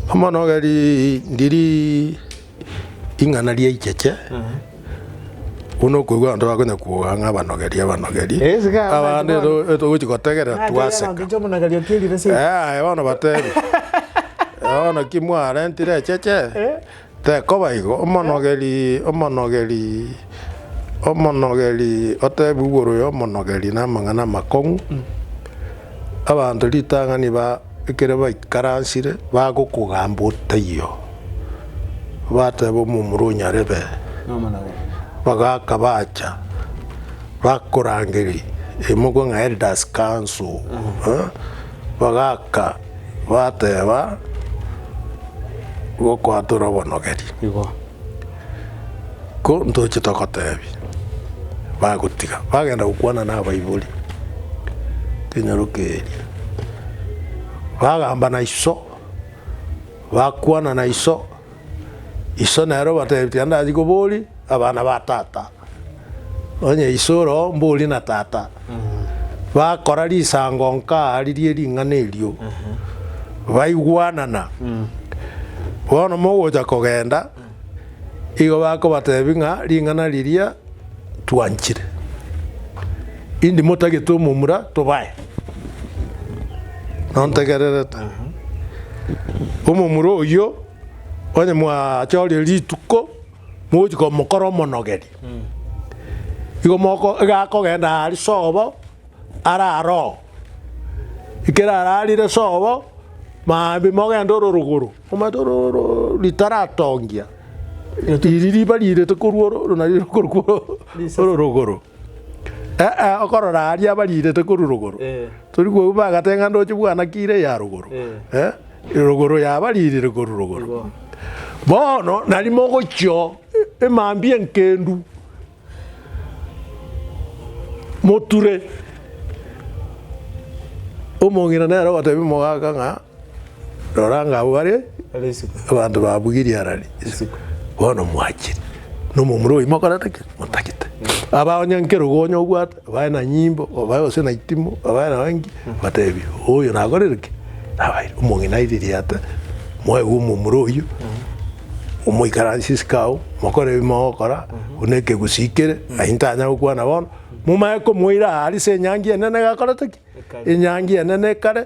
Omonogeri ndiri ing'ana riaicheche, buna okoigwa abanto bakonya koboga ng'a abanogeri abanogeri, Eh, sika abanto abande bono. to- togochi gotegerera Ng'a ategerera twaseka. ngoncho omonogeri okirire se. Eh, aye bono batebe. Bono ki mwarentire echeche? Tekoba igo, omonogeri, omonogeri, omonogeri otebiwe igoro y'omonogeri namang'ana amakong'u, abanto ritang'ani ba ekero baikaransire bagokogamba otaiyo, bateba omomura o nyarebe, bagaka bacha bakorangeri emogwe ng'a elders council, bagaka. Bateba, Gokwatora obonogeri, igo ntoche togotebie. Bagotiga, bagenda gokwana nabaibori kenyaroke eria, bagamba na iso, bakwana na iso, iso nere obatebia, Tindachia koboria abana ba tata. Onye iso oro mbori na tata bakora risango nkaaririe ring'ana erio, baigwanana, bono mogocha kogenda, igo bakobatebia ng'a ring'ana riria twanchire, indi motagete omomura tobae. Nontegererete? Omomura oyio onye mwachorire rituko Mogochia komokora omonogeri, igo moko iga akogenda aari sobo arare oo. Ekero ararire sobo, maambia mogenda ororogoro, omanyete ororogoro ritaratongia, iri riba riirete korwa oro, oro nario rikorwa korwa ororogoro. Ee, okorora aria bariirete korwa rogoro, tori koigwa bagate ng'a ndoche bwana ki ire ya rogoro, eh, rogoro yabariirire korwa rogoro. Bono nari mogochia oo, e- emambia enkendu, moture, omong'ina nere ogotebia omogaka ng'a. Rora ng'a abwo bare abanto ba Bwiri arari isiko, bono mwachire, na omomura oyi mokorete ki? Motagete. Aba onye nki rogonyo obwate, obae na nyimbo, obae gose na itimo, obae naye nki, motebie, oyo nakorire ki? Nabaire. Omong'ina airirie ate, mwaigwe omomura oyio, omoikaransie isiko agwo, mokore ebi mogokora, buna ekegusii kere, aye ntanya gokwana bono, momae komoira aa ase enyangi enene gakorete ki? Enyangi enene ekare,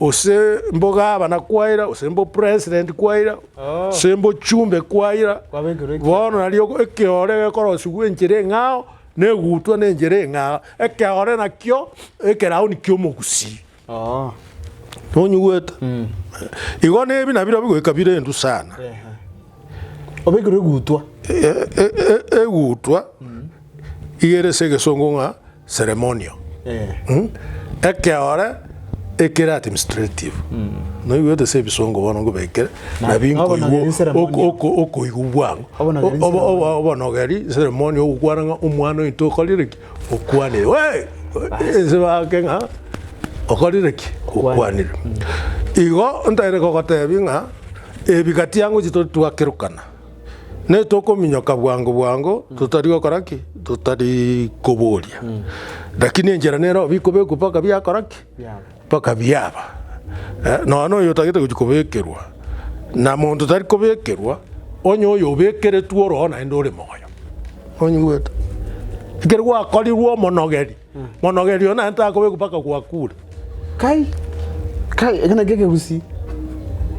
Gose mbo gavana kwaira, gose mbo president kwaira, gose mbo chumbe kwaira, bono nario ekeore gekorosigwa enchera eng'ao, na egutwa na enchera eng'ao, ekeore nakio ekerauni ki'omogusii. Nonyigwete? Igo nebi nabirobio goika bire endu sana. Obekirwe egutwa. Egutwa iga ere ase egesongo ng'a Ceremonio, ekeore ekere administrative, noigwete ase ebisongo bono nkobekire Na- nabinkoigwa nobonogeri ceremonial. ok- ok- okoigwa bwango Obonogeri Obo- obo- ceremonial. obonogeri ceremonio ogokwana ng'a omwana oito okorire ki okwanire Wee! ense bake ng'a okorire ki okwanire igo ntaete kogotebi ng'a ebi gati yango chitori twakerokana. Ne tokominyoka bwango bwango totari gokora ki? Totari koboria. Lakini enchera nero bikobekwa mpaka biakora ki? Mpaka biaba. Eh, nonya na oyo otagete gochi kobekerwa, na monto tari kobekerwa, onye oyo obekeretwe oroo naende ore moyo. Onyigwete? Ekero gwakorirwe omonogeri, Monogerie oyo naende takobekwa mpaka gwakure. Kai, kai, eke nakio ekegusii.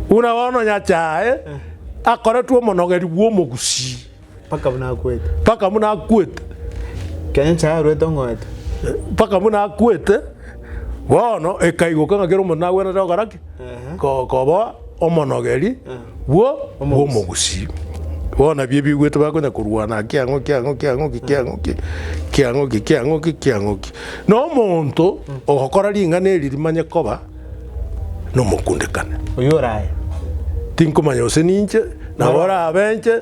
Buna bono Nyachae akoretwe omonogeri bw'omogusii Mpaka buna akwete. mpaka buna akwete. Kenya Nyasae arwete ong'oete. mpaka buna akwete. Bono ekaigoka ng'a kera omonto nagwenerete gokora ki? koba omonogeri bwo bw'omogusii. Bono ebio ebigwete bakonya korwana ng'a kiang'oki ang'oki ang'oki kiang'oki kiang'oki kiang'oki kiang'oki. Na omonto ogokora ring'ana eri rimanye koba nomokundekane. Oyio oraye. Tinkomanya gose ninche nabo orabe inche.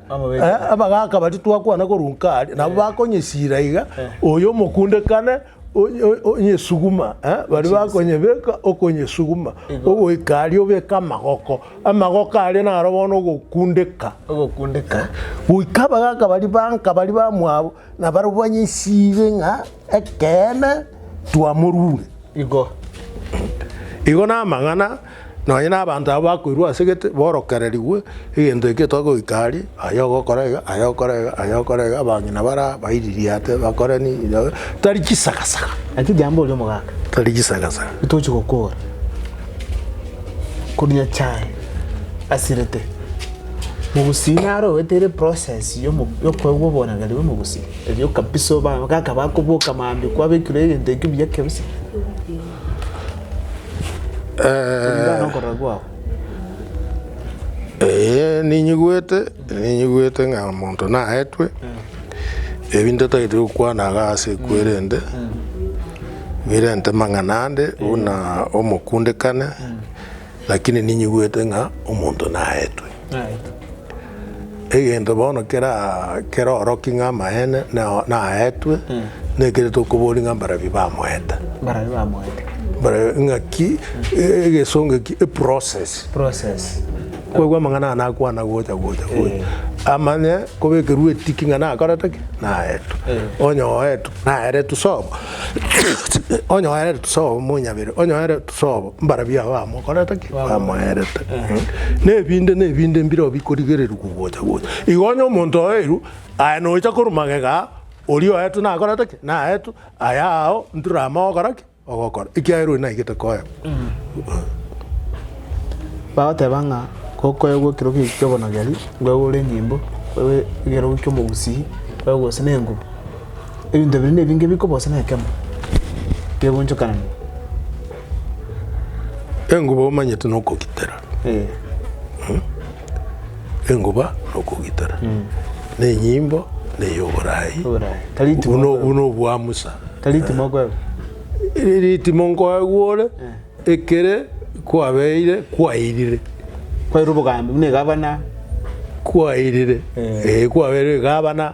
Abagaaka baria twakwana korwa nkaaria, nabo bakonyesira iga, oyo omokundekane onye- onye- onyesuguma, eh, baria bakonyebeka okonyesuguma, ogoika aria obeke amagoko, amagoko aria naro bono ogokundeka. Ogokundeka. Goika abagaaka baria banka baria bamwabo Nabarabwo anyesirie ng'a ekeene twamorure. Igo igo namang'ana nonye nabanto aba bakoirwa ase gete borokererigwe egento eke togoika aria, aye ogokora iga, aye ogokora iga, aye ogokora iga, abang'ina bare aba baiririate bakore nini nabo tari chisagasanga. Naki jambo oria omogaka. Tari chisagasanga. Ntochi gokora. Koria chai asirete. Mogusi naro owete ere process ya omo- ya okoegwa oborangeria bwa omogusi, erio kabisa oba- gaka bakoboka mambia kwabekirwe egento ekio buya kabisa, kulingana na okorora kwao. Ee, ninyigwete, ninyigwete ng'a omonto naetwe, ebi ntatagete gokwana iga ase kwerende, birente mang'ana ande buna omokundekane. Lakini ninyigwete ng'a omonto naetwe. Egento bono kera keroroki ng'a amaene nao naetwe, nekere tokoboria ng'a mbarabio bamoete. Mbarabio bamoete. Mbare- ng'aki e- egesongo eki eprocess Process. kwegwa amang'ana aya nakwana gocha gocha gocha Eh. amanye kobekerwa etiki ng'a nakorete ki naetu Eh. onye oetu naeretu sobo onye oeretu sobo monyabere onye oeretu Sobo, mbarabwo aba bamokorete ki? Bamoeerete. Nebinde nebinde mbireo bikorigereria kogocha gocha. Igo onye omonto oeirwe, aye nocha korwa magega aa, oria oetwe nakorete ki? Naetwe, aya ao ntoramae ogokora ki? Ogokora, ekiagera oyo naigete koegwa. Bagoteba ng'a gokoegwa ekerogo eki ki'obonogeri, ngoegwe ore enyimbo, ngoegwe ekerogo ki'omogusii, ngoegwe gose nengubu. ebinto bire nebinge bikobosa na ekemo kegonchokanania. Enguba omanyete nokogitera. Eh. Enguba nokogitera. Na enyimbo na eyoborai. Oborai. Tari itimo Buno okoegwa. buno obwa Musa. Tari itimo okoegwa. Eritimo nkoegwa ore ekere kwabeire kwairire. Kwaire obogambi buna egabana. Kwairire. Eh. Eh kwabeire egabana.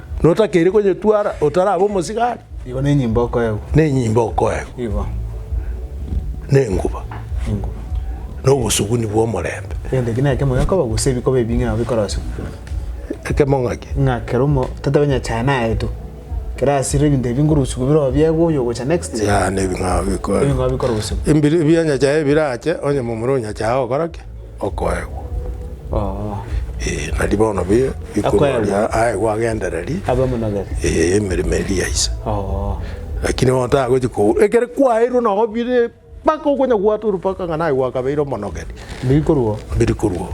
notakeiri konyetwara otarabe omosigari Igo nenyimba okoegwa. nenyimba okoegwa Igo nenguba enguba. nobosuguni bw'omorembe Egento ki nekemo gekoba gose ebikoba ebinge nabo bikorosiwa. ekemo ng'aki Ng'a kero omo totobe onye chae nayeto. Kero asire ebinto ebi nkorusiwa bire oo biegwe oyo ogocha next. ya nebing'ao bikoegwa Ebing'ao bikorosiwa. Ebiri bianyachae birache onye momura onyachae ogokora ki? okoegwa. Oo. Ee, nari bono bi- bikoruoria Akoegwa. aegwe agendereri Abe omonogere. ee, emeremo eria ya ise. Oo. Lakini bono tagochi ko ekere kwaeirwe nabo bire mpaka okonya gwatua orupaka ng'a naye gwakabeire omonogeri, Biri korwa oo. biri korwa oo.